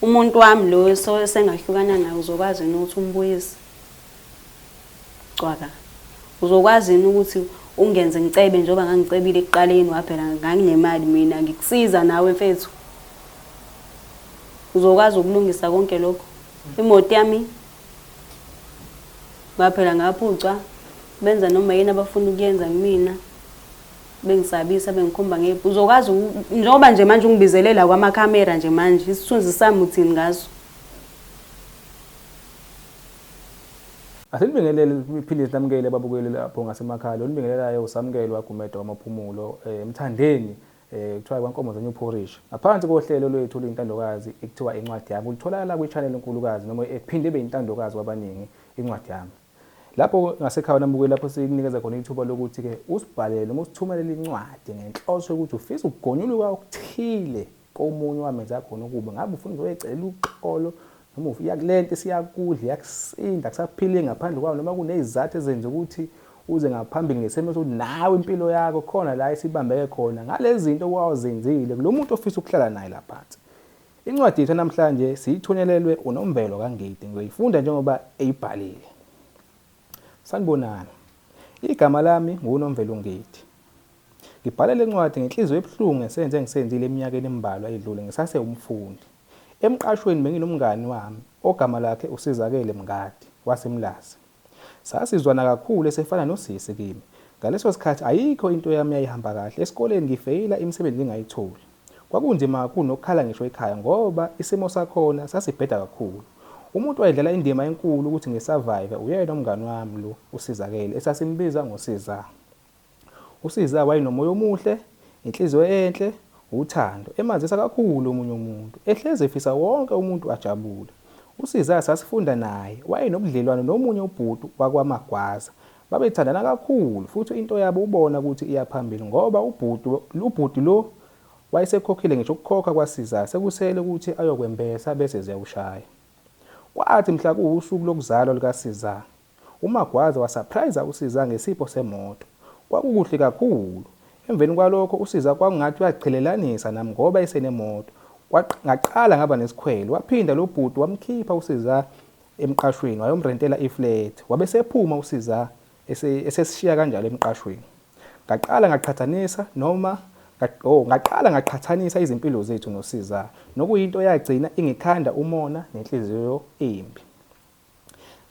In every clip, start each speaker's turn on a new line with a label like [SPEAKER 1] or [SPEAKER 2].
[SPEAKER 1] Umuntu wami lo so sengahlukana naye uzokwazi yini ukuthi umbuyise? Cwaka. Uzokwazi yini ukuthi ungenze ngicebe njengoba ngangicebile ekuqaleni waphela nganginemali mina ngikusiza nawe mfethu. Uzokwazi ukulungisa konke lokho. Imoto yami ngaphela ngaphucwa benza noma yini abafuna ukuyenza kumina. bengisabisa bengikhomba nge uzokwazi njengoba nje manje ungibizelela kwamakhamera nje manje isithunzi sami uthini ngaso
[SPEAKER 2] Asilibingelele iphilisi lamukele ababukeli lapho ngasemakhaya olibingelelayo usamkelwa Gumede wamaphumulo eh, emthandeni eh, kuthiwa kwankomo zenye uphorishi ngaphansi kohlelo lwethu oluyintandokazi ekuthiwa incwadi yami ulitholakala kwi-channel enkulukazi noma ephinde ibe yintandokazi kwabaningi incwadi yami Lapho ngasekhaya uNamukeli lapho sikunikeza khona ithuba lokuthi ke usibhalele noma usithumelele incwadi ngenhloso yokuthi ufisa ukugonyuluka okuthile komunye wamenza khona ukuba ngabe ufuna uzoyecela uxolo noma uya kulento siyakudla yakusinda kusaphile ngaphandle kwawo noma kunezizathu ezenza ukuthi uze ngaphambili ngesimo sokuthi nawe impilo yakho khona la isibambeke khona ngalezinto wawuzenzile kulomuntu ofisa ukuhlala naye laphansi Incwadi yethu namhlanje siyithunyelelwe uNomvelo kaNgidi ngiyoyifunda njengoba eyibhalile. Sanibonani. Igama lami nguNomvelo Ngidi. Ngibhala le ncwadi ngenhliziyo ebuhlungu ngesenzo engisenzile eminyakeni embalwa edlule ngisase umfundi. Emqashweni benginomngani wami ogama lakhe uSizakele Mngadi waseMlazi. Sasizwana kakhulu esefana nosisi kimi. Ngaleso sikhathi ayikho into yami eyayihamba kahle, esikoleni ngifeyila imisebenzi ngingayitholi. Kwakunzima kakhulu nokukhala ngisho ekhaya ngoba isimo sakhona sasibheda kakhulu. Umuntu owayedlala indima enkulu ukuthi ngi-survive uyena umngani wami lo uSizakele esasimbiza ngoSizaa. USiza wayenomoya omuhle, inhliziyo enhle, uthando, emazisa kakhulu omunye umuntu, ehlezi efisa wonke umuntu ajabule. USiza sasifunda naye, wayenobudlelwano nomunye ubhuti wakwaMagwaza. Babethandana kakhulu futhi into yabo ubona ukuthi iya phambili ngoba ubhuti lo wayesekhokhile ngisho ukukhokha kwaSiza sekusele ukuthi ayokwembesa bese ziyawushaya. Kwathi mhla kuwusuku lokuzalwa lukaSiza, UMagwaza wasaphrayiza uSiza ngesipho semoto. Kwakukuhle kakhulu. Emveni kwalokho uSiza kwakungathi uyaziqhelelanisa nami ngoba esenemoto. Kwaq ngaqala ngaba nesikhwele. Waphinda lo bhuti wamkhipha uSiza emqashweni wayomrentela iflethi. Wabe esephuma uSiza ese, esesishiya kanjalo emqashweni. Ngaqala ngaqhathanisa noma nga, oh, ngaqala ngaqhathanisa izimpilo zethu noSiza, nokuyinto eyagcina ingikhanda umona nenhliziyo embi.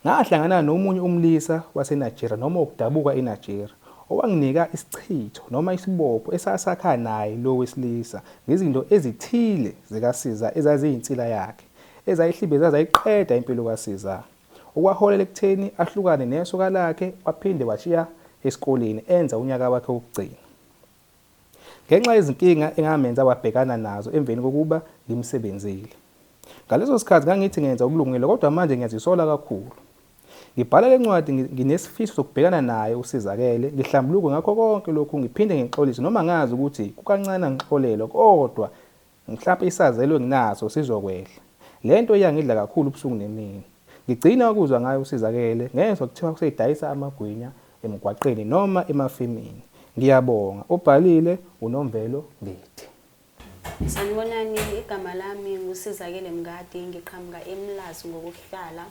[SPEAKER 2] Ngahlangana nomunye umlisa waseNigeria noma wokudabuka eNigeria owanginika isichitho noma isibopho esasakha naye lo wesilisa ngezinto ezithile zikaSiza ezaziyinsila yakhe ezayihlibeza zayiqeda impilo kaSiza okwaholela ekutheni ahlukane nesoka lakhe waphinde washiya esikoleni enza unyaka wakhe wokugcina. ngenxa yezinkinga engamenza wabhekana nazo emveni kokuba ngimsebenzile. Ngaleso sikhathi ngangithi ngenza okulungile kodwa manje ngiyazisola kakhulu. Ngibhala le ncwadi nginesifiso sokubhekana naye usizakele, ngihlambuluke ngakho konke lokhu ngiphinde ngixolise noma ngazi ukuthi kukancane angixolelwe kodwa Mhlampe isazelo enginaso sizokwehla. Le nto iyangidla kakhulu ubusuku nemini. Ngigcina ukuzwa ngayo uSizakele ngezwa kuthiwa usedayisa amagwinya emgwaqeni noma emafemini. Ngiyabonga, obhalile uNomvelo Ngidi.
[SPEAKER 1] Sanibonani, igama lami nguSizakele Mngadi, ngiqhamuka eMlazi ngokuhlala.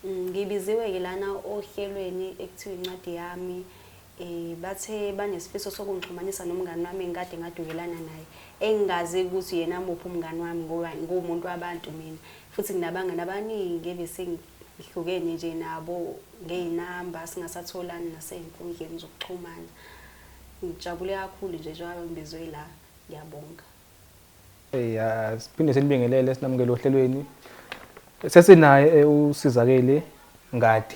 [SPEAKER 1] Mm, ngibiziwe-ke lana ohlelweni ekuthiwa incwadi yami um bathe banesifiso sokungixhumanisa nomngani wami engikade ngadukelana naye engingazi ukuthi yena muphi umngani wami ngoba nguwumuntu wabantu mina futhi nginabangani abaningi ebesengihlukene nje nabo ngey'namba singasatholani nasey'nkundleni zokuxhumana ngijabule kakhulu nje njengoba ngibizwe la ngiyabonga Hey, ah,
[SPEAKER 2] siphinde senibingelele sinamukele ohlelweni. Sesinaye eh, usizakele ngadi.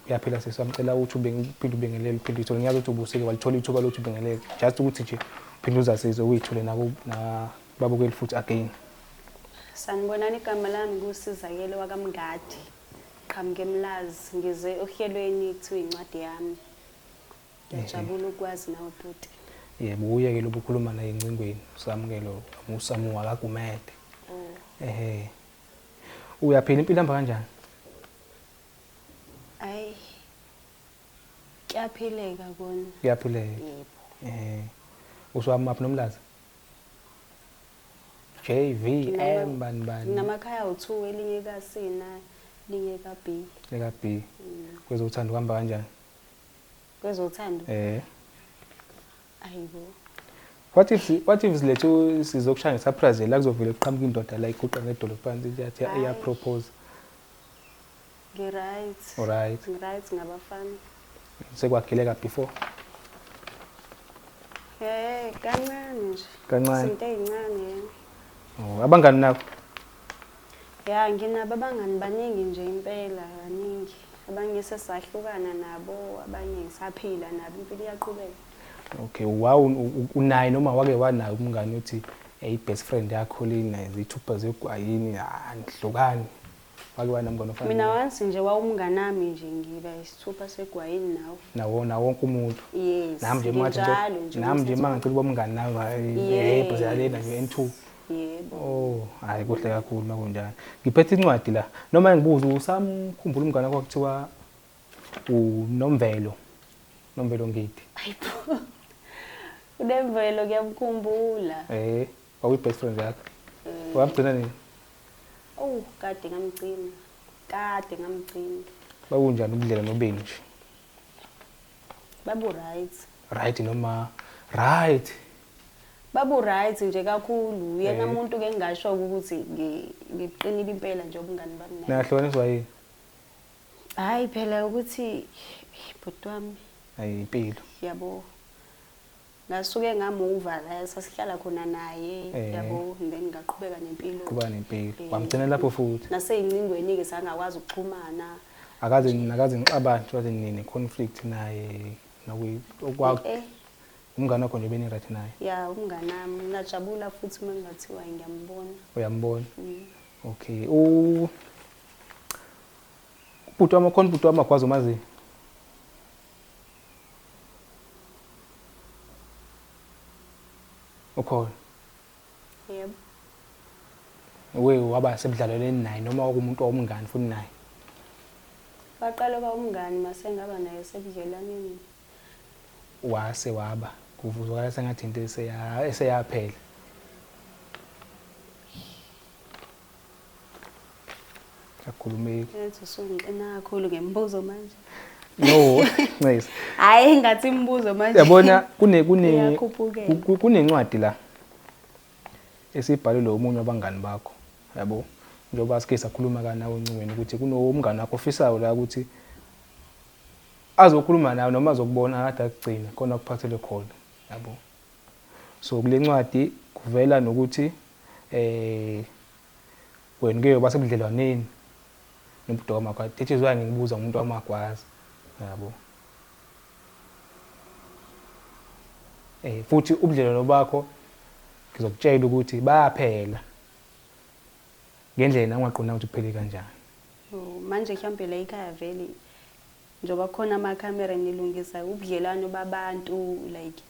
[SPEAKER 2] Uyaphila sisi wamcela ukuthi uphinde ubingelele uphinde uyithole ngiyazi ukuthi ubusike walithola ithuba lokuthi ubingelele just ukuthi nje uphinde uzasize uyithole nabo nababukeli futhi again.
[SPEAKER 1] Sanibonani igama lami kusizakele wakamngadi. Qhamuke emlazi ngize ohlelweni kuthiwa incwadi yami. Ngiyajabula ukwazi nawe bhuti. Yebo uyekele
[SPEAKER 2] ukukhuluma la encingweni usamukele usamuka akagumede. Oh. Ehhe. Uyaphila impilo ihamba kanjani?
[SPEAKER 1] Ayi. Kuyaphileka kona. Kuyaphileka. Yebo. Eh.
[SPEAKER 2] Uswamaphi
[SPEAKER 1] nomlazi?
[SPEAKER 2] JVM bani bani. Nginamakhaya awu2
[SPEAKER 1] elinye kasina linye kaB. Lika B. Mm.
[SPEAKER 2] Kwezothando kuhamba kanjani?
[SPEAKER 1] Kwezothando? Eh. Ayibo.
[SPEAKER 2] What if what if silethu sizokushaya ngesurprise la kuzovela kuqhamuka indoda la iguqa ngedolo phansi iyathi iya propose. Ngi right.
[SPEAKER 1] All right. Ngi right ngabafana. Sekwagileka
[SPEAKER 2] before.
[SPEAKER 1] Eh kancane nje. Kancane. Izinto ezincane. Oh
[SPEAKER 2] abangani nabo?
[SPEAKER 1] Ya nginabo abangani baningi nje impela baningi. Abanye sesahlukana nabo, abanye ngisaphila nabo impilo iyaqhubeka. Okay,
[SPEAKER 2] wawu unaye noma wake wanayo umngani othi eh, i-best friend yakho lina zithupha zegwayini andihlukani. Wake wanamngani ofana. Mina once nje wawumngani
[SPEAKER 1] nami nje ngiba isithupha segwayini nawe. Nawo nawo wonke
[SPEAKER 2] umuntu. Yes. Nami nje manje
[SPEAKER 1] nginjalo
[SPEAKER 2] nje. Nami nje mangicela uba umngani nawe Yes. hey bhazela lena nje N2. Yebo.
[SPEAKER 1] Oh, hayi kuhle kakhulu
[SPEAKER 2] makunjalo. Ngiphethe incwadi la. Noma ngibuza usamkhumbula umngane wakho kuthiwa uNomvelo. Nomvelo Ngidi.
[SPEAKER 1] Hayibo. Unemvelo kuyamkhumbula. Eh, wakuyi
[SPEAKER 2] best friend yakho. Eh. Wamgcina nini? Oh,
[SPEAKER 1] kade ngamgcina. Kade ngamgcina.
[SPEAKER 2] Bakunjani ubudlela nobeni nje? Babu
[SPEAKER 1] right. Right noma
[SPEAKER 2] right.
[SPEAKER 1] Babu right nje kakhulu. Yena umuntu ke ngingasho ukuthi ngiqinile impela nje ubungani bami naye. Nahlukaniswa yini? Hayi phela ukuthi bhuti wami. Hayi impilo.
[SPEAKER 2] Yabo.
[SPEAKER 1] ngasuke ngamuva la sasihlala khona naye Eh. yabo and then ngaqhubeka nempilo Qhubeka nempilo. Eh,
[SPEAKER 2] Wamgcina lapho futhi? naseyingcingweni ke
[SPEAKER 1] sangakwazi ukuxhumana akaze
[SPEAKER 2] nakaze nixabana nje waze nine conflict naye nokuyi okwa eh umngane wakho nje beni right naye ya umnganami
[SPEAKER 1] ngajabula futhi uma ngingathiwa ngiyambona uyambona
[SPEAKER 2] Mm. okay u Ubhuti wami khona ubhuti wami magwaza umaziyo. Ukhona.
[SPEAKER 1] Yebo. Uwe
[SPEAKER 2] waba sebudlaleleni naye noma okumuntu owumngani futhi naye.
[SPEAKER 1] Waqala uba umngani masengaba naye sebudlelaneni.
[SPEAKER 2] Wase waba kuvuzwakala sengathi into eseya eseyaphela. Akhulumeki. Yazi usungixina kakhulu
[SPEAKER 1] ngemibuzo manje. No,
[SPEAKER 2] Ncese. Hayi ngathi
[SPEAKER 1] imibuzo manje. Yabona kune kune
[SPEAKER 2] Iyakhuphukela. ku- ku- kunencwadi la esibhalelwe omunye wabangani bakho. Yabo. Njengoba sike sakhuluma ka nawe ncingweni ukuthi kunomngani wakho ofisayo la ukuthi azokhuluma nawe noma azokubona akade akugcine khona kuphathele khona. Yabo. So kule ncwadi kuvela nokuthi eh wena uke yoba sebudlelwaneni nobudoka magwaza that is why ngikubuza umuntu wamagwaza yabo eh futhi ubudlelwano bakho ngizokutshela ukuthi bayaphela ngendlela ungaqonda ukuthi kuphele kanjani oh, manje
[SPEAKER 1] mhlawumbe la ikhaya vele Njoba kukhona ama camera nilungisa ubudlelwano babantu like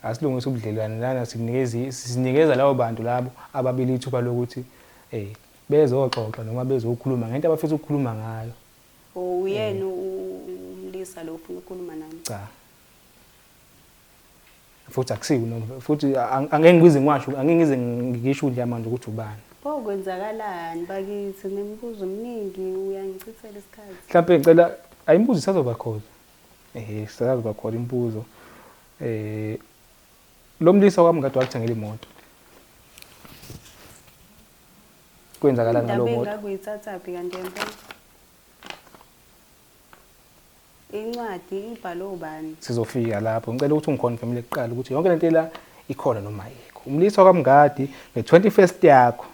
[SPEAKER 1] asilungisa
[SPEAKER 2] ubudlelwane lana sinikeza sinikeza labo bantu labo ababili ithuba lokuthi eh bezoxoxa noma bezokhuluma ngento abafisa ukukhuluma ngayo uyena
[SPEAKER 1] umlisa lo ufuna ukukhuluma nami cha
[SPEAKER 2] futhi akusiwo noma futhi angeke ngize ngiwasho angeke ngize ngisho udla manje ukuthi ubani pho kwenzakalani
[SPEAKER 1] bakithi nemibuzo eminingi uyangichithela isikhathi mhlawumbe ngicela
[SPEAKER 2] ayimbuzo isazoba khona ehe isazoba khona imbuzo eh lo mlisa kwami ngade wakuthengela imoto kwenzakalani ngalowo moto indaba engakuyithathaphi kanti
[SPEAKER 1] empela Incwadi ibhalwe ubani? Sizofika lapho.
[SPEAKER 2] Ngicela ukuthi ungiconfirmele kuqala ukuthi yonke lento ela ikhona noma ayikho. Umlisa kwaMngadi nge-21st yakho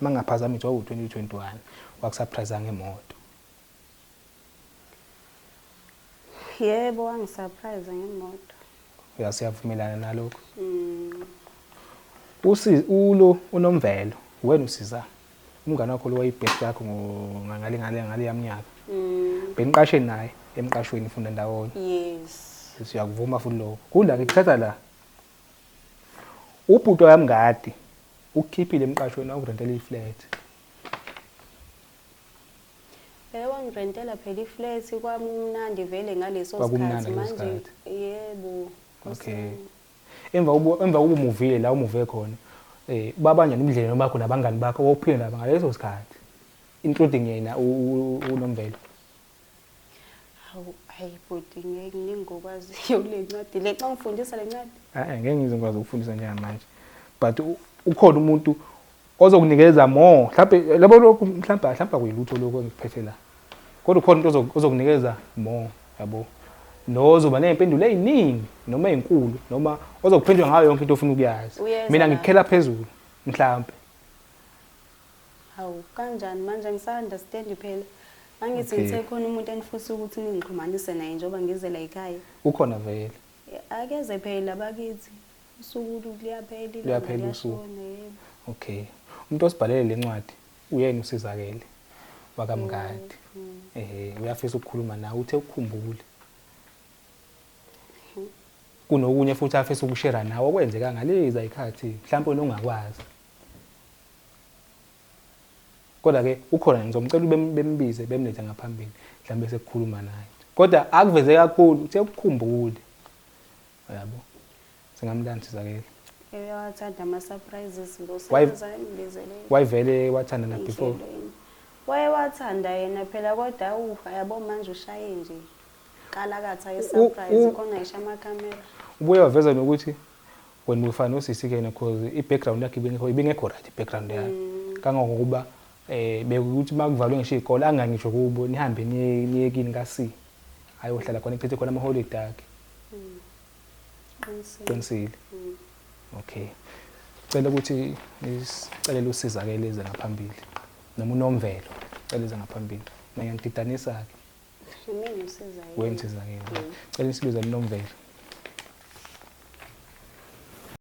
[SPEAKER 2] mangaphazami nje wawu-2021 wakusurprise ngemoto.
[SPEAKER 1] Yebo wangisurprise ngemoto. Ya siyavumelana
[SPEAKER 2] nalokho. Mm. Usi ulo unomvelo wena usiza. umngane wakho lo wayibest yakho ngale ngale ngale yamnyaka mm. beniqashe naye emqashweni funda ndawonye yes
[SPEAKER 1] siyakuvuma futhi lokho
[SPEAKER 2] kula ngikuthatha la ubhuto yamngadi ukukhiphile emqashweni awurentela iflat Eh
[SPEAKER 1] wangirentela phela iflat kwamnandi vele ngaleso sikhathi manje yebo
[SPEAKER 2] okay Emva
[SPEAKER 1] kokuba emva
[SPEAKER 2] kokuba umuvile la umuve khona, eh babanjani ubudlelwano bakho nabangani bakho ophile nabo ngaleso sikhathi including yena uNomvelo? Hawu
[SPEAKER 1] hayi bhuti ngeke ngingokwaziyo kule ncwadi le xa ungifundisa le ncwadi. Eh ngeke ngizokwazi
[SPEAKER 2] ukufundisa njengamanje. But ukhona umuntu ozokunikeza more mhlampe labo lokhu mhlampe mhlampe akuyilutho lokho engikuphethe la kodwa ukhona umuntu ozokunikeza more yabo nozoba nezimpendulo eziningi noma ezinkulu noma ozokuphendula ngayo yonke into ofuna ukuyazi mina ngikukhela phezulu mhlampe
[SPEAKER 1] hawu kanjani manje ngisa-understand phela angithi okay. ngisekhona umuntu enifisa ukuthi ningixhumanise naye njengoba ngize la yikhaya ukhona vele
[SPEAKER 2] akeze
[SPEAKER 1] phela bakithi Usuku luyaphela ilanga Luyaphela
[SPEAKER 2] usuku. liyashona yebo. Okay. Umuntu osibhalele le ncwadi uyena usizakele wakamngadi. Mm. Ehhe uyafisa ukukhuluma nawe uthe ukukhumbule. Kunokunye futhi afisa ukushera nawe okwenzeka ngalezi ayikhathi mhlawumbe wena ungakwazi. Kodwa ke ukhona ngizomcela ubem- bembize bemlethe ngaphambili mhlawumbe sekukhuluma naye. Kodwa akuveze kakhulu uthe ukukhumbule. Uyabo. Singami la ngisizakele. Uyawathanda
[SPEAKER 1] ama surprises lo sebenza imbizele. Wayivele wathanda
[SPEAKER 2] na before. Waye
[SPEAKER 1] wathanda yena phela kodwa u yabo manje ushaye nje. Qala katha ye surprise khona isha ama camera. Ubuye waveza
[SPEAKER 2] nokuthi when we find usisi kena because i background yakhe ibingekho ibingekho right background yakhe. Mm. Kangangokuba eh bekuthi makuvalwe ngisho izikole angangisho kubo nihambe niye niyekini kasi ayohlala khona echithe khona ama holiday akhe qinisile okay cela ukuthi isicelele usizakele ize ngaphambili noma unomvelo cela ize ngaphambili mina ngididanisa ke
[SPEAKER 1] mina usizakele wena usizakele
[SPEAKER 2] cela isibiza linomvelo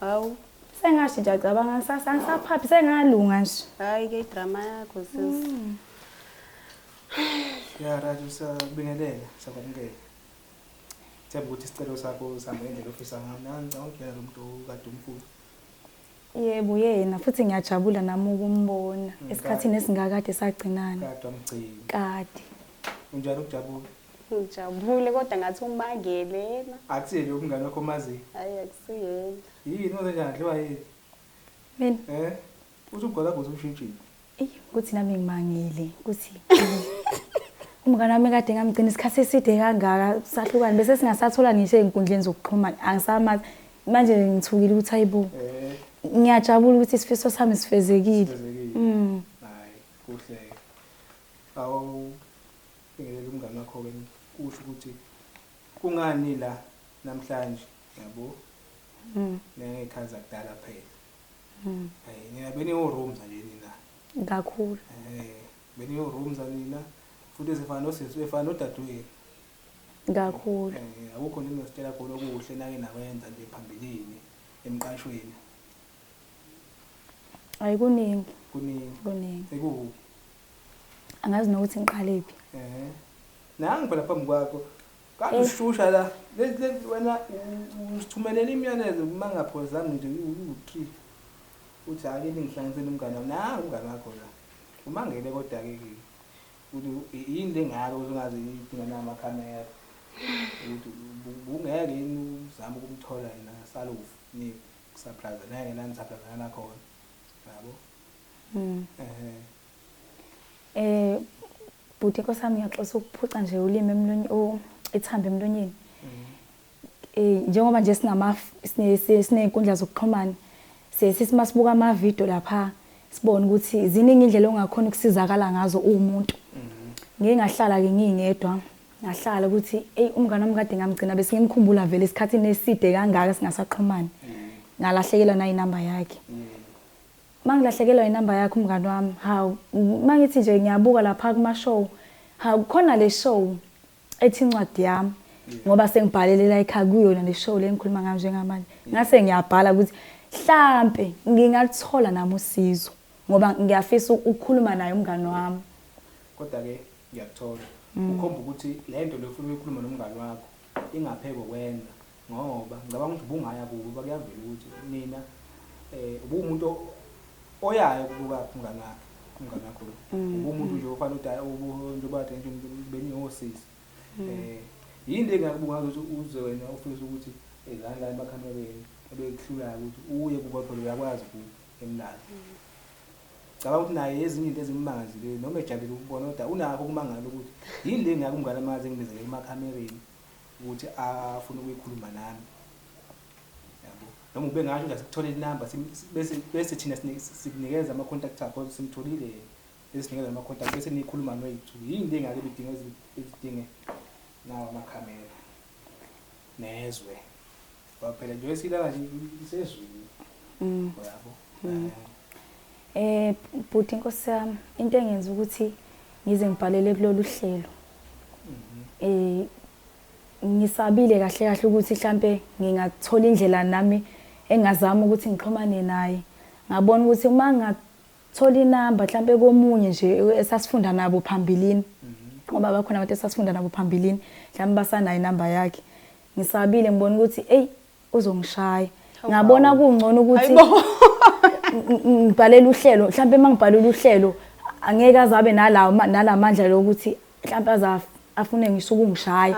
[SPEAKER 1] Hawu.
[SPEAKER 3] Sengashi nje acabanga kusasa ngisaphaphi sengalunga nje. Hayi ke idrama
[SPEAKER 1] yakho sis. Mm.
[SPEAKER 2] Ya Raju sabingelela sakwamukela. Themba ukuthi isicelo sakho sihamba ngendlela ofisa ngayo. Nangicabanga ukuyena lo muntu kade umkhulu.
[SPEAKER 3] Yebo yena futhi ngiyajabula nami ukumbona mm, esikhathini esingakade sagcinana. Kade amgcini.
[SPEAKER 2] Kade.
[SPEAKER 3] Unjani
[SPEAKER 2] ukujabula? Ngijabule
[SPEAKER 1] kodwa ngathi umakele yena. Akusiyena lokhu umngane wakho
[SPEAKER 2] omaziyo. Hayi akusiyena.
[SPEAKER 1] Yini wenze njani
[SPEAKER 2] adliwa yini? Mina.
[SPEAKER 3] Eh?
[SPEAKER 2] Uthi ugwala kuthi umshintshile. Eyi ukuthi nami
[SPEAKER 3] ngimangile ukuthi umngane wami kade ngamgcina isikhathi eside kangaka sahlukane bese singasathola ngisho ezinkundleni zokuxhumana angisamazi manje ngithukile ukuthi hayibo eh. ngiyajabula ukuthi isifiso sami sifezekile. Sifezekile. Mm.
[SPEAKER 2] Hayi kuhle. Awu Bhekelela umngani wakho ke usho ukuthi kungani nila namhlanje yabo. Mhm. Nengekhazi akudala kuphela. Mhm. Hey nina beniwo rooms nje nina. Kakhulu. Eh
[SPEAKER 3] beniwo
[SPEAKER 2] rooms nina futhi sifana nosisi efana nodadewenu.
[SPEAKER 3] Kakhulu. Eh akukho nini
[SPEAKER 2] ositshela khona okuhle nake nakwenza nje phambilini emqashweni.
[SPEAKER 3] Ayikuningi. Kuningi. Kuningi.
[SPEAKER 2] Ekuphi?
[SPEAKER 3] angazi nokuthi ngiqalephi eh
[SPEAKER 2] nangi phela phambi kwakho kakushusha eh. la wena usithumelela imiyalezo uma ngaphozanga nje uwu-three uthi hake ningihlanganisele umngane wami na umngane wakho la uma ngele kodwa-ke ukuthi yini le ngalo uzongaze idinga namakhamera ukuthi bungeke yini uzame ukumthola yena salofu ni kusaphraza nengena nisaphrazana nakhona yabo
[SPEAKER 3] Mm. Eh. Eh bhuti nkosami uyaxosa ukuphuca nje ulimi emlonyeni o ithamba emlonyeni. Mm. Eh njengoba nje sinama sinezinkundla zokuxhumana sesithi masibuka ama video lapha sibone ukuthi ziningi indlela ongakhona ukusizakala ngazo umuntu. Mm-hmm. Ngeke ngahlala ke ngingedwa. Mm. ngahlala ukuthi eyi umngane wami kade ngamgcina bese ngimkhumbula vele esikhathini eside kangaka singasaqhumani mm. ngalahlekelwa nayinamba yakhe mm. Mangilahlekelwa inamba yakho mngani wami hawu mangithi nje ngiyabuka lapha kuma show hawu khona le show ethi incwadi yami ngoba sengibhalele la ekhaya kuyona le show lengikhuluma ngayo njengamanje ngase ngiyabhala ukuthi hlampe ngingathola nami usizo ngoba ngiyafisa ukukhuluma naye umngani wami kodwa ke
[SPEAKER 2] ngiyakuthola mm. ukhomba ukuthi lento lefuna ukukhuluma nomngani wakho ingapheko kwenza Ngoba ngicabanga ukuthi ubungaya kubo ngoba kuyavela ukuthi nina eh ubumuntu oyayo kubuka umngane wakhe umngane wakho lo mm, ubumuntu mm. nje ofana udala umuntu bathe nje benihosisi mm. eh yini le ngakubunga ukuthi uze wena ufisa ukuthi ezani eh, la emakhanda benu ebekuhlulayo ukuthi uye kubo phela uyakwazi ku emlalo cabanga ukuthi naye ezinye into ezimmangazi le noma ejabule ukubona kodwa unakho kumangala ukuthi yini le ngakumngane amazi engibizele emakhamereni ukuthi afuna ukuyikhuluma nami yabo noma ube ngasho ukuthi asikuthole inamba bese bese thina sikunikeza ama contact akho simtholile esinikeza ama contact bese nikhuluma noyithu yini le ngake bidinga ezidinge nawo amakhamera nezwe Ngoba phela nje wesilala nje
[SPEAKER 3] isezulu. Mm. Uyabo? Mm. Eh. eh, bhuti inkosi yami, into engenza ukuthi ngize ngibhalele kulolu hlelo. Mhm. Eh ngisabile kahle kahle ukuthi mhlambe ngingathola indlela nami engazama ukuthi ngixhumane naye. Ngabona ukuthi uma ngathola inamba mhlambe komunye nje esasifunda nabo phambilini. Mhm. Ngoba bakhona abantu esasifunda nabo phambilini, mhlambe basanayo inamba yakhe. Ngisabile ngibona ukuthi eyi uzongishaya. Ngabona kungcono ukuthi ngibhalele uhlelo mhlawumbe uma ngibhalele uhlelo angeke azabe nalawo nalamandla lokuthi mhlawumbe aza afune ngisho ukungishaya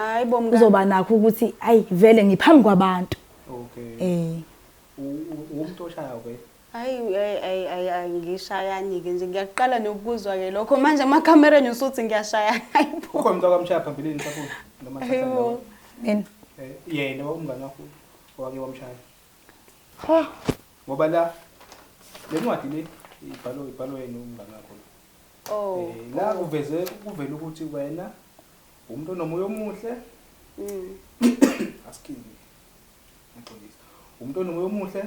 [SPEAKER 3] uzoba nakho ukuthi ayi vele ngiphambi kwabantu okay eh
[SPEAKER 2] umuntu oshayo ke Hayi hayi hayi hayi
[SPEAKER 1] hayi, ngishayani-ke nje ngiyaqala nokukuzwa-ke lokho manje amakhamera enye usuthi ngiyashayana hayibo Ukhona umuntu akwamshaya phambilini
[SPEAKER 2] mhlawumbe noma thatha Hayibo. nawe.
[SPEAKER 1] Mina.
[SPEAKER 2] Eh, yena umngane wakho owake wamshaya Ha. ngoba la le ncwadi le ibhalwe ibhalwe yena umngane wakho oh Eh, la kuveze kuvela ukuthi wena umuntu onomoya omuhle mm. asikini ngixolisa umuntu onomoya omuhle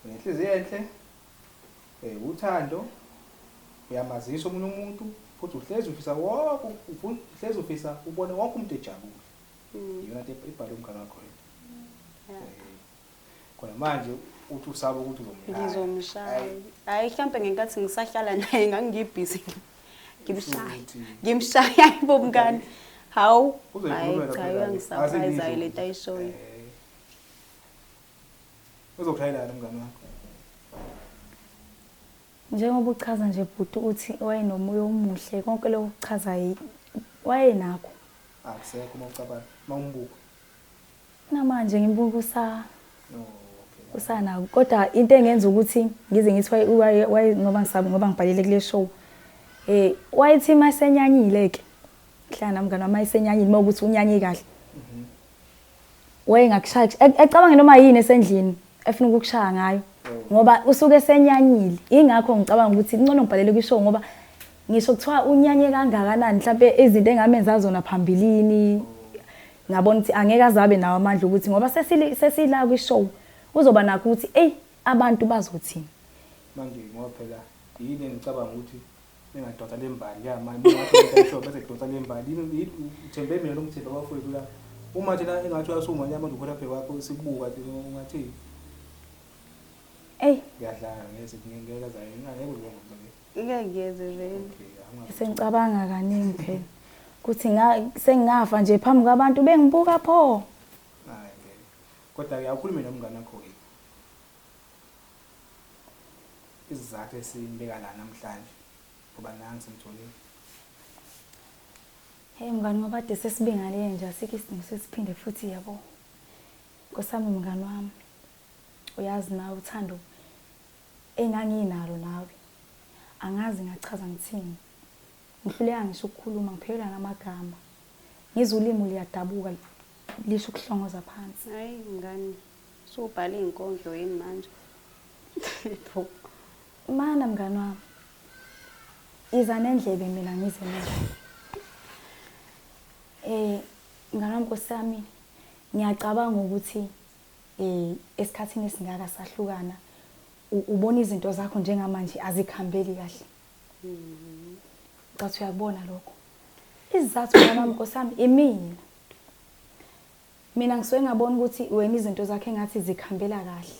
[SPEAKER 2] Unenhliziyo enhle, eh, uthando, uyamazisa omunye umuntu futhi uhlezi ufisa wonke ufuna uhlezi ufisa ubone wonke umuntu ejabule. Mm. Iyona nto ibhalwe umngane wakho yini? Yeah. Eh, Khona manje uthi usaba ukuthi uzomshaya. Ngizomshaya.
[SPEAKER 1] Ayi, Hayi mhlampe ngenkathi ngisahlala naye ngangibhizi. Ngimshaya. Futhi. Ngimshaya ibo mngani. Hawu. Hayi uzoyikhulumela cha phela le. uyangisurprise Azibizi le ukuthi, tayishoyo. eh,
[SPEAKER 2] Uzokushayelana umngane wakho.
[SPEAKER 3] Njengoba uchaza nje bhuti ukuthi wayenomoya omuhle konke lokho kuchaza wayenakho. Akusekho
[SPEAKER 2] uma ucabanga uma umbuka.
[SPEAKER 3] Namanje ngimbuka usa usanako kodwa into engenza ukuthi ngize ngithi waye ngoba ngisabe ngoba ngibhalile kule show eh wayethi masenyanyile ke hlala namngane wami mayisenyanyile uma ukuthi unyanye kahle Weye ngakushaya e, ecabanga noma yini esendlini efuna ukukushaya ngayo ngoba usuke esenyanyile ingakho ngicabanga ukuthi kuncono ngibhalele kwishow ngoba ngisho kuthiwa unyanye kangakanani mhlawumbe izinto engamenza zona phambilini ngabona ukuthi angeke azabe nawo amandla ukuthi ngoba sesila kwishow uzoba nakho ukuthi eyi abantu bazothini manje
[SPEAKER 2] ngoba phela yini engicabanga ukuthi Ningadonsa le mbali ya mani ningathi umuntu ayisho bese kudonsa le mbali Yini- yini- uthembe mina noma uthembe abafowethu la uma thina engathi uyasuma nyama nje ukhona phe kwakho sikubuka nje ungathini eyi ngiyadlala ngeze ngingeke zayo ngeke uzoba ngizake ngeke ngiyeze
[SPEAKER 1] vele okay angazi sengicabanga
[SPEAKER 3] kaningi phela ukuthi nga- sengingafa nje phambi kwabantu bengibuka pho hayi ngeke
[SPEAKER 2] kodwa ke awukhulume nomngane wakho ke Isizathu esimbeka la namhlanje ngoba nangu simtholile.
[SPEAKER 3] Hey mngani ngoba kade sesibingalile nje asikho isidingo sesiphinde futhi yabo. Nkosami mngani wami. Uyazi nawe uthando enganginalo nawe. Angazi ngachaza ngithini. Ngihluleka ngisho ukukhuluma ngiphelelwa namagama. Ngizwe ulimi liyadabuka lisho ukuhlongoza phansi. Hayi mngani
[SPEAKER 1] Usubhala iy'nkondlo yini manje? Pho.
[SPEAKER 3] Mana mngani wami. Iza nendlebe mina ngize nendlebe. Eh mngani wami Nkosi yami ngiyacabanga ukuthi eh esikhathini esingaka sahlukana ubona izinto zakho njengamanje azikhambeli kahle. Mhm. Cathi uyakubona lokho. Izizathu mama Nkosi yami imina. Mina ngisuke ngabona ukuthi wena izinto zakhe engathi zikhambela kahle.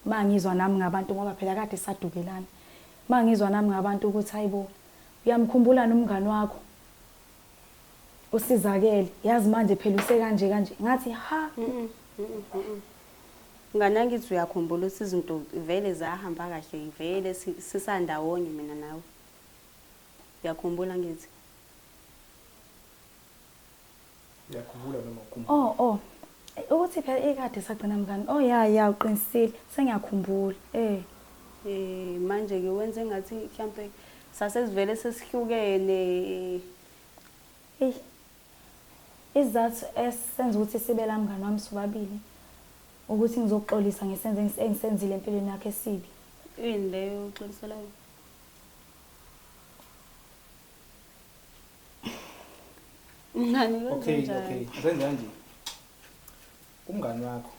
[SPEAKER 3] Uma ngizwa nami ngabantu ngoba phela kade sadukelana. Uma ngizwa nami ngabantu ukuthi hayibo uyamkhumbulana umngani wakho usizakele yazi manje phela usekanje kanje ngathi ha
[SPEAKER 1] ngana ngithi uyakhumbula ukuthi izinto vele zahamba kahle vele sisandawonye mina nawe uyakhumbula ngithi
[SPEAKER 2] Ngiyakhumbula noma ukhumbula. Oh oh. Ukuthi
[SPEAKER 3] phela ikade sagcina mngani. Oh ya ya uqinisile. Sengiyakhumbula. Eh. Eh
[SPEAKER 1] manje ke wenze ngathi mhlambe sasesivele sesihlukene. Eh.
[SPEAKER 3] Izathu esenza ukuthi sibe la mngani wami sobabili ukuthi ngizoxolisa ngesenze engisenzile empilweni yakhe esibi. Yini leyo
[SPEAKER 1] uxoliselayo? Mngani wenze Okay, njani? okay.
[SPEAKER 2] Ngenza nje. Umngani wakho.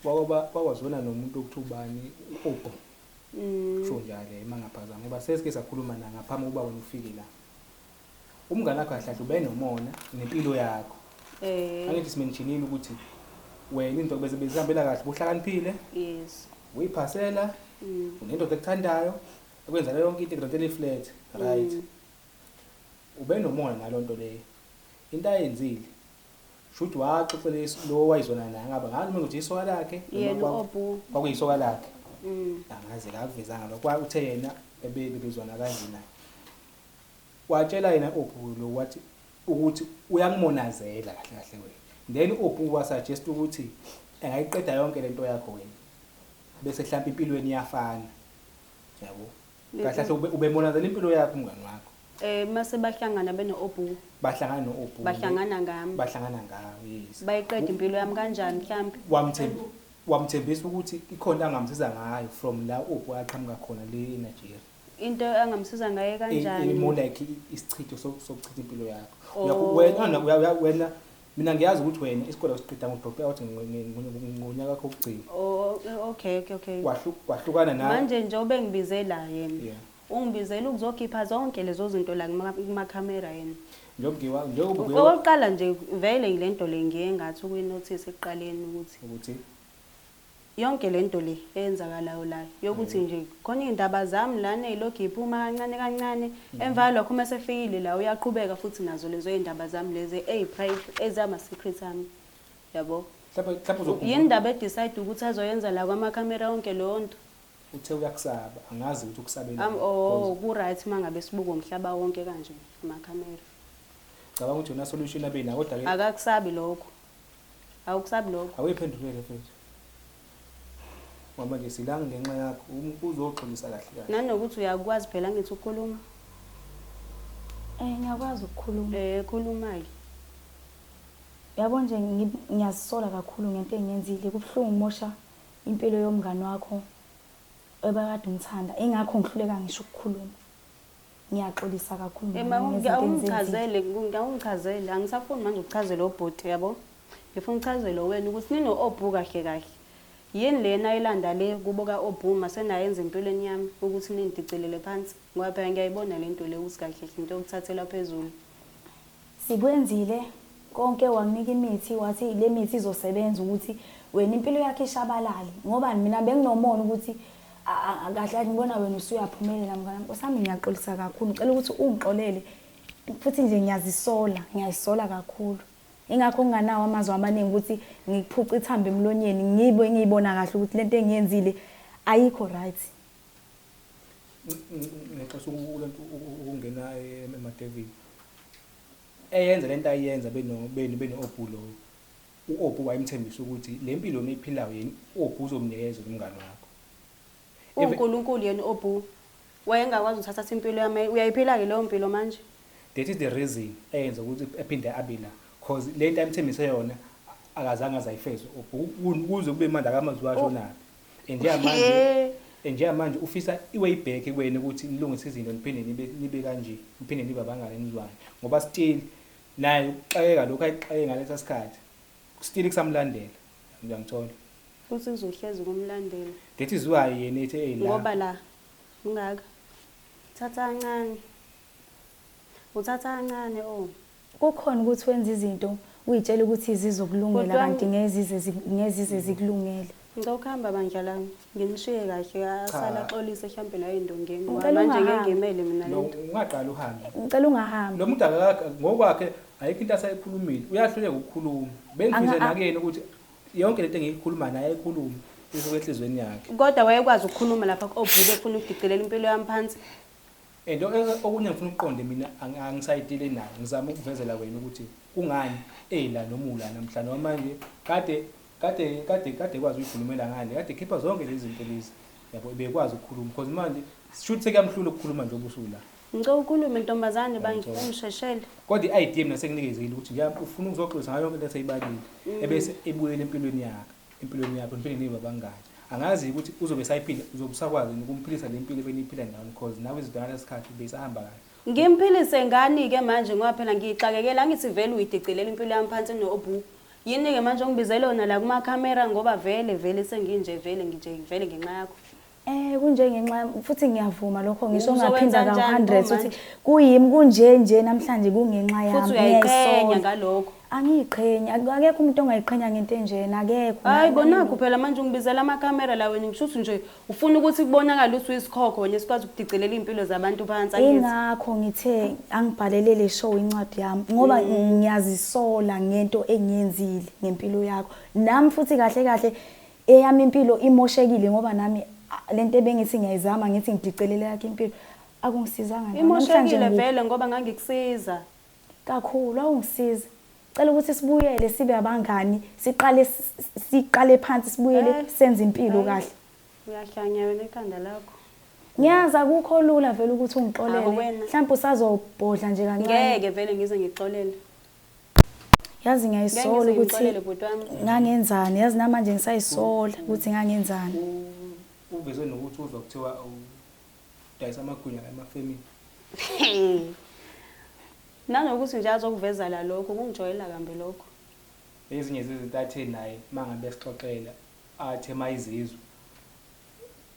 [SPEAKER 2] Wakwaba wakwazona nomuntu okuthi ubani uqoqo. Mm. Kusho njalo ema ngaphazama ngoba sesike sakhuluma na ngaphambi kuba wena ufike la. Umngani wakho ahlahle ube nomona nempilo yakho. Eh. Angithi simentionile ukuthi wena into bese bezihambela kahle buhlakaniphile, Yes.
[SPEAKER 1] uyiphasela,
[SPEAKER 2] Mm. unendoda ekuthandayo, ekwenzela yonke into igrade eliflat right mm. ubenomona nalo nto leyo into ayenzile shuthi waxoxela lo wayizona naye ngaba ngani mina ukuthi isoka lakhe
[SPEAKER 1] kwakuyisoka lakhe
[SPEAKER 2] mm. angazi kakuvezanga lokho uthe yena ebebezwana kanjena watshela yena ophu lo wathi ukuthi uyakumonazela kahle kahle wena then ophu wasuggest ukuthi engayiqeda yonke lento yakho wena bese mhlawumbe impilweni iyafana yabo kahle kahle ube- ubemonazela impilo yakho umngani wakho Eh mase bahlangana
[SPEAKER 1] beno obu bahlangana no-obu
[SPEAKER 2] bahlangana ngami.
[SPEAKER 1] bahlangana ngawe
[SPEAKER 2] yes Bayiqeda impilo yami
[SPEAKER 1] kanjani mhlambi? Wamthemb-
[SPEAKER 2] wamthembisa ukuthi ikhona into angamsiza ngayo from la obu aqhamuka khona le enigeria Into angamsiza
[SPEAKER 1] ngaye kanjani? more like i-
[SPEAKER 2] isichitho so- sokuchitha impilo yakho Oh. Uyakho- wena wena- wena Mina ngiyazi ukuthi wena isikole usiqeda ngo-drop out ngonyaka wakho wokugcina. Oh, okay, okay,
[SPEAKER 1] okay. Wahlu- Wahlukana
[SPEAKER 2] nawe. Manje njengoba engibize
[SPEAKER 1] la yena. Yeah. Ungibizela ukuzokhipha zonke lezo zinto la kuma- kumakhamera yena. Njengoba ngiwa- njengoba
[SPEAKER 2] ngiwa- Okokuqala nje
[SPEAKER 1] vele ngilento le ngiye ngathi ukuyinothisa ekuqaleni ukuthi ukuthi Yonke lento le eyenzakalayo la yokuthi nje khona iy'ndaba zami lana ey'lokhu y'phuma kancane kancane, emva kwalokho uma esefikile la uyaqhubeka futhi nazo lezo y'ndaba zami lezi ezama-secret ami, yabo. Mhlawumbe mhlawumbe uzokhumbula.
[SPEAKER 2] Yini indaba e-decide
[SPEAKER 1] ukuthi azoyenza la kwamakhamera yonke leyo nto? Uthe uyakusaba,
[SPEAKER 2] angazi ukuthi ukusabelani. Am- oh, Because ku-right
[SPEAKER 1] uma ngabe sibuka umhlaba wonke kanje amakhamera. Cabanga
[SPEAKER 2] ukuthi yona solution abe nayo kodwa-ke Akakusabi lokho.
[SPEAKER 1] awukusabi lokho awuyiphendulele mfethu
[SPEAKER 2] ngoba nje silangi ngenxa yakho uzoxolisa kahle kahle nanokuthi uyakwazi phela
[SPEAKER 1] ngithi ukukhuluma eh
[SPEAKER 3] ngiyakwazi ukukhuluma eh khuluma-ke yabo nje ngiyazisola kakhulu ngento engiyenzile kubuhlungu umosha impilo yomngane wakho ebakade umthanda ingakho ngihluleka ngisho ukukhuluma ngiyaxolisa kakhulu mama Ema ngezinto engizenzile. ungichazele ungichazele
[SPEAKER 1] angisafuni manje ukuchazela obhuti yabo. Ngifuna uchazele wena ukuthi nino obhu kahle kahle. Yini lena ayilanda le kubo ka obhu masenayenza empilweni yami ukuthi nindicelele phansi ngoba phela ngiyayibona lento le ukuthi kahle kahle into yokuthathela phezulu.
[SPEAKER 3] Sikwenzile konke wamnika imithi wathi lemithi izosebenza ukuthi wena impilo yakhe ishabalale ngoba mina benginomona ukuthi kahle ngibona wena usuyaphumelela mngane wami osami ngiyaxolisa kakhulu ngicela ukuthi ungixolele futhi nje ngiyazisola ngiyazisola kakhulu ingakho nginganawo amazwi amaningi ukuthi ngikuphuca ithambo emlonyeni ngibe ngiyibona kahle ukuthi lento engiyenzile ayikho right
[SPEAKER 2] ngixosa ukulento ukungena emadevini eyenza lento ayenza beno beno beno obhulo uObhu wayemthembisa ukuthi le mpilo niyiphilayo yini uObhu uzomnikeza umngane wakho
[SPEAKER 1] uNkulunkulu yena uObhu wayengakwazi ukuthatha impilo yami uyayiphila ke leyo mpilo manje that is the
[SPEAKER 2] reason eyenza ukuthi ephinde abe la cause lento ayemthembise yona akazange azayifeze uObhu kuze kube manje akamazwi washo naphi njengamanje He. eh, njengamanje ufisa iway back kuwena ukuthi nilungise izinto niphinde nibe nibe kanje niphinde nibe abangane nizwane ngoba still naye ukuxakeka lokho ayixake ngalesa sikhathi still kusamlandela uyangithola futhi
[SPEAKER 1] kuzohlezi kumlandela that is why yena
[SPEAKER 2] ethi hey la ngoba la
[SPEAKER 1] ungaka thatha kancane uthatha kancane o Kukhona
[SPEAKER 3] ukuthi wenza izinto uyitshela ukuthi zizokulungela Kodwa- kanti ngeke zize zi- ngeke zize zikulungele. Ngicela
[SPEAKER 1] ukuhamba bandla lami. Nginishiye kahle asala axolise hlampe la endongeni. Wa, Ngicela Manje ungahamba. ngengemele
[SPEAKER 3] mina
[SPEAKER 1] No, lento.
[SPEAKER 3] ungaqala
[SPEAKER 1] uhambe. Ngicela
[SPEAKER 2] ungahambi. Lo
[SPEAKER 3] muntu akaka
[SPEAKER 2] ngokwakhe ayikho into asayikhulumile. Uyahluleka ukukhuluma. Bengifise Anga- nakuyena ukuthi yonke lento engiyikhuluma naye ayikhulume isuke enhlizweni yakhe. Kodwa wayekwazi ukukhuluma
[SPEAKER 1] lapha obhuke efuna ukudicilela impilo yami phansi. And
[SPEAKER 2] okunye ngifuna ukuqonde mina angisayidile nayo ngizama ukuvezela wena ukuthi kungani ela noma ula namhla noma manje kade kade kade kade kwazi uyikhulumela ngale kade khipha zonke lezi zinto lezi yabo bekwazi ukukhuluma because manje shuthi sekamhlula ukukhuluma nje obusuku la ngicela ukhulume
[SPEAKER 1] ntombazane bangisheshele kodwa i-idea mina
[SPEAKER 2] senginikezile ukuthi nje ufuna ukuzoxolisa ngayo yonke into eseyibalile mm. ebese ebuyela empilweni yakhe empilweni yakho niphinde nibe abangani angazi ukuthi uzobe sayiphila uzobe usakwazi ukumphilisa le mpilo beniyiphila nayo because nawe izidwana lesikhathi beyisahamba kahle ngimphilise ngani
[SPEAKER 1] ke manje ngoba phela ngiyixakekela angithi vele uyidicilela impilo yami phansi nobu yini ke manje ongibizela yona la kuma camera ngoba vele vele senginje vele nginje vele ngenxa yakho Eh kunjengenxa
[SPEAKER 3] yami futhi ngiyavuma lokho ngisho ngaphinda ka 100 ukuthi
[SPEAKER 1] kuyimi kunje
[SPEAKER 3] nje namhlanje kungenxa yami. Futhi uyayiqhenya
[SPEAKER 1] ngalokho. Angiyiqhenya,
[SPEAKER 3] akekho umuntu ongayiqhenya ngento enjena, akekho. Hayi konakho phela
[SPEAKER 1] manje ungibizela amakamera la wena ngisho ukuthi nje ufuna ukuthi kubonakale ukuthi uyisikhokho wena esikwazi ukudicelela izimpilo zabantu phansi angithi. Ingakho ngithe
[SPEAKER 3] angibhalele le show incwadi yami ngoba mm. ngiyazisola ngento engiyenzile ngempilo yakho. Nami futhi kahle kahle Eyami impilo imoshekile ngoba nami a- le nto ebengithi ngiyayizama ngithi ngidicelele yakhe impilo akungisizanga nto. Namhlanje Imoshekile ngi- vele ngoba
[SPEAKER 1] ngangikusiza. kakhulu
[SPEAKER 3] awungisiza cela ukuthi sibuyele sibe abangani siqale s- s- siqale phansi sibuyele Eh, senze impilo eh. kahle Uyahlanya
[SPEAKER 1] wena ikhanda lakho. ngiyazi
[SPEAKER 3] akukho lula vele ukuthi Awu, ungixolele wena. mhlawumbe usazobhodla nje kancane Ngeke vele ngize ngixolele. yazi ngiyayisola ukuthi ngangenzani yazi namanje ngisayisola ukuthi ngangenzani uveze
[SPEAKER 2] nokuthi uzwa kuthiwa udayisa amagwinya emafemini
[SPEAKER 1] nanokuthi nje azokuvezala lokho kungijwayela kambi lokho ezinye
[SPEAKER 2] zezinto athe naye uma ngabe esixoxela athe mayizizwe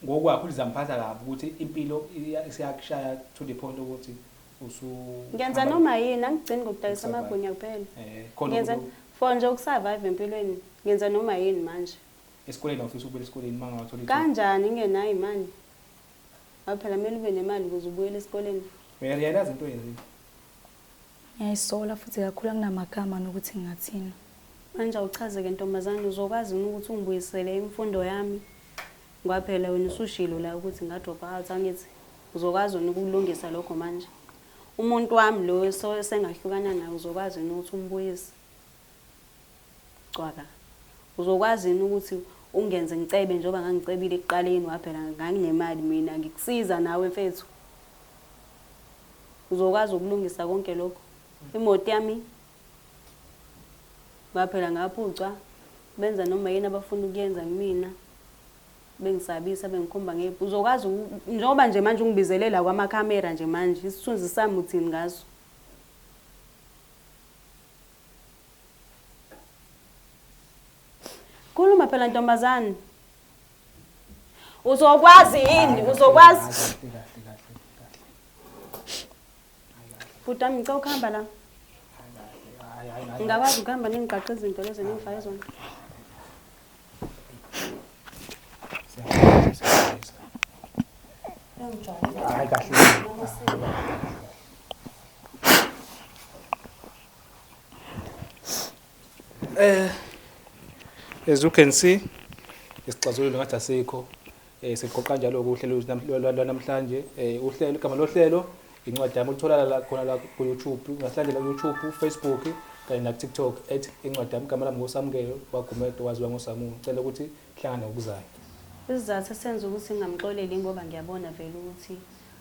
[SPEAKER 2] Ngokwakho lizamuphatha kabi ukuthi impilo isiyakushaya to the point ukuthi usu Ngenza
[SPEAKER 1] noma yini angigcini ngokudayisa amagwinya kuphela. Eh, Ngenza for nje ukusurvive empilweni. Ngenza noma yini manje. Esikoleni awufisa
[SPEAKER 2] ukubuyela esikoleni mangawa thola Kanjani ngenayo imali?
[SPEAKER 1] Aphela mele ube nemali ukuze ubuyele esikoleni. Uyarealize into
[SPEAKER 2] oyenzile.
[SPEAKER 3] Ngiyayisola futhi kakhulu anginamagama nokuthi ngingathini. Manje
[SPEAKER 1] awuchaze-ke ntombazane, uzokwazi yini ukuthi ungibuyisele imfundo yami? Ngoba phela wena usushilo la ukuthi ngadropha out, angithi? Uzokwazi yini ukulungisa lokho manje? Umuntu wami lo esengahlukana naye uzokwazi yini ukuthi umbuyise? Cwaka. Uzokwazi yini ukuthi ungenze ngicebe njengoba ngangicebile ekuqaleni ngoba phela nganginemali mina ngikusiza nawe mfethu. Uzokwazi ukulungisa konke lokho. Imoto yami ngoba phela ngaphucwa benza noma yini abafuna ukuyenza kumina bengisabisa bengikhomba nge uzokwazi njengoba nje manje ungibizelela kwamakhamera nje manje isithunzi sami uthini ngaso Khuluma phela ntombazane. Uzokwazi yini? Uzokwazi. Bhuti wami ngicela ukuhamba la. Ngingakwazi ukuhamba ningigqaqa izinto lezi engifaye zona.
[SPEAKER 2] Hayi kahle. Eh as you can see isixazululo ngathi asikho Eh siqoqa njalo uhlelo lwanamhlanje eh uhlelo igama lohlelo incwadi yami uthola la khona la ku YouTube ungahlangela ku YouTube Facebook kanye na TikTok at incwadi yami igama lami ngosamukelo bagumedo waziwa ngosamulo cela ukuthi hlangana ngokuzayo isizathu
[SPEAKER 1] senza ukuthi ngingamxoleli ngoba ngiyabona vele ukuthi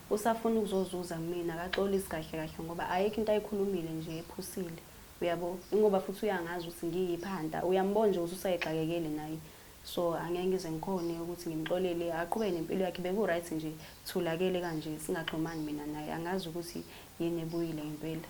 [SPEAKER 1] usafuna ukuzozuza kumina akaxolisi kahle kahle ngoba ayikho into ayikhulumile nje ephusile uyabo ingoba futhi uyangazi ukuthi ngiyiphi hanta uyambona nje ukuthi usayixakekele naye so angeke ngize ngikhone ukuthi ngimxolele aqhubeke nempilo yakhe beku-right nje thulakele kanje singaxhumani mina naye angazi ukuthi yini ebuyile ngempela